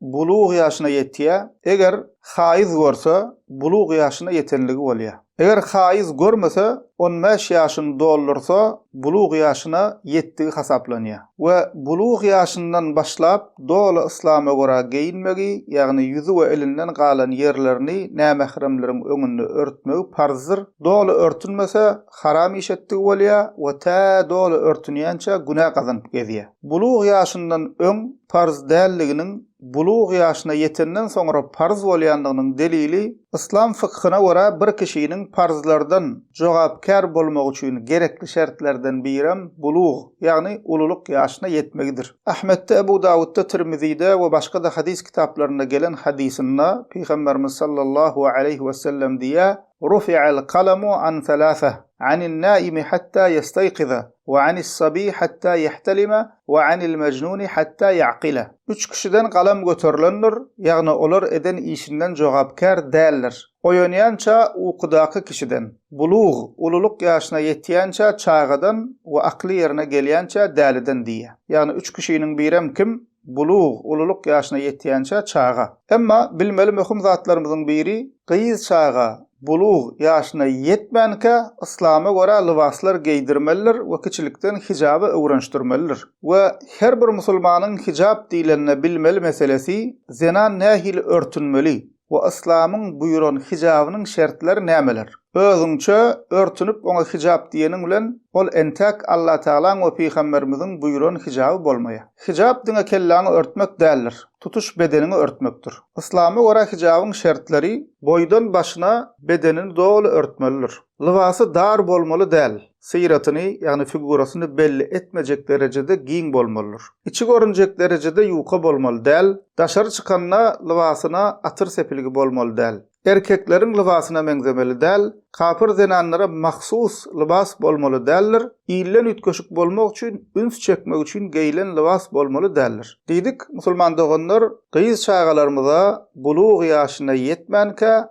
bulug ýaşyna ýetýär, eger haýyz görse, bulug ýaşyna ýetenligi bolýar. Eger haýyz görmese, on bäş ýaşyny doldursa, bulug ýaşyna ýetdigi hasaplanýar. We bulug ýaşyndan başlap doly yslama görä geýinmegi, ýagny ýüzi we elinden galan ýerlerini nämähremleriň öňünde örtmegi parzdyr, doly örtünmese, haram iş etdigi bolýar we tä doly örtünýänçä günä gazanyp gezýär. Bulug ýaşyndan öň parz däldiginiň bulug ýaşyna ýetenden soňra parz bolýandygynyň delili yslam fykhyna görä bir kişiniň parzlardan jogapkär bolmagy üçin gerekli şertlerden birem bulug, ýagny ululyk ýaşyna ýetmegidir. Ahmetde, Ebu Dawudda, Tirmizide we başga-da hadys kitaplarynda gelen hadysynda Pygamberimiz sallallahu aleýhi wesellem diýýär, Rufi'al kalamu an salasah, anin-naimi hatta ýestaýkiza, Wa anis sabi hatta yahtalima wa anil majnuni hatta yaqila. Üç kişiden galam göterilendir, ýagny olar eden işinden jogapkär däldir, Oýanýança ukudaky kişiden, bulug, ululyk ýaşyna ýetýänçä çagadan we akly ýerine gelýänçä däliden diýýär. Ýagny üç kişiniň birem kim? Bulug, ululyk ýaşyna ýetýänçä çaga. Emma bilmeli möhüm zatlarymyzyň biri, gyz çaga bulug ýaşyna ýetmänkä yslama görä lybaslar geýdirmelidir we kiçilikden hijaba öwrenşdirmelidir. We her bir musulmanyň hijap diýlende bilmeli meselesi, zenan nähili örtünmeli, we yslamyň buýran hijabynyň şertleri nämeler? Özüňçe örtünip oňa hijap diýeniň bilen ol entäk Allatagalaň we pygamberimiziň buýran hijaby bolmaýar. Hijap diňe kelläňi örtmek däldir, tutuş bedeniňi örtmekdir. Yslama görä hijabyň şertleri, boýdan başyna bedenini doly örtmelidir. Lybasy dar bolmaly däl. syratyny, ýagny figurasyny belli etmejek derejede giň bolmalydyr. Içi görünjek derejede ýuka bolmaly däl, daşary çykanda lybasyna atyr sepilgi bolmaly däl. Erkekleriň lybasyna meňzemeli däl, kapyr zenanlara mahsus lybas bolmaly däldir, ilden üýtgeşik bolmak üçin, üns çekmek üçin geýlen lybas bolmaly däldir. Diýdik, musulman doganlar, gyz çagalarymyza bulugy ýaşyna ýetmänkä,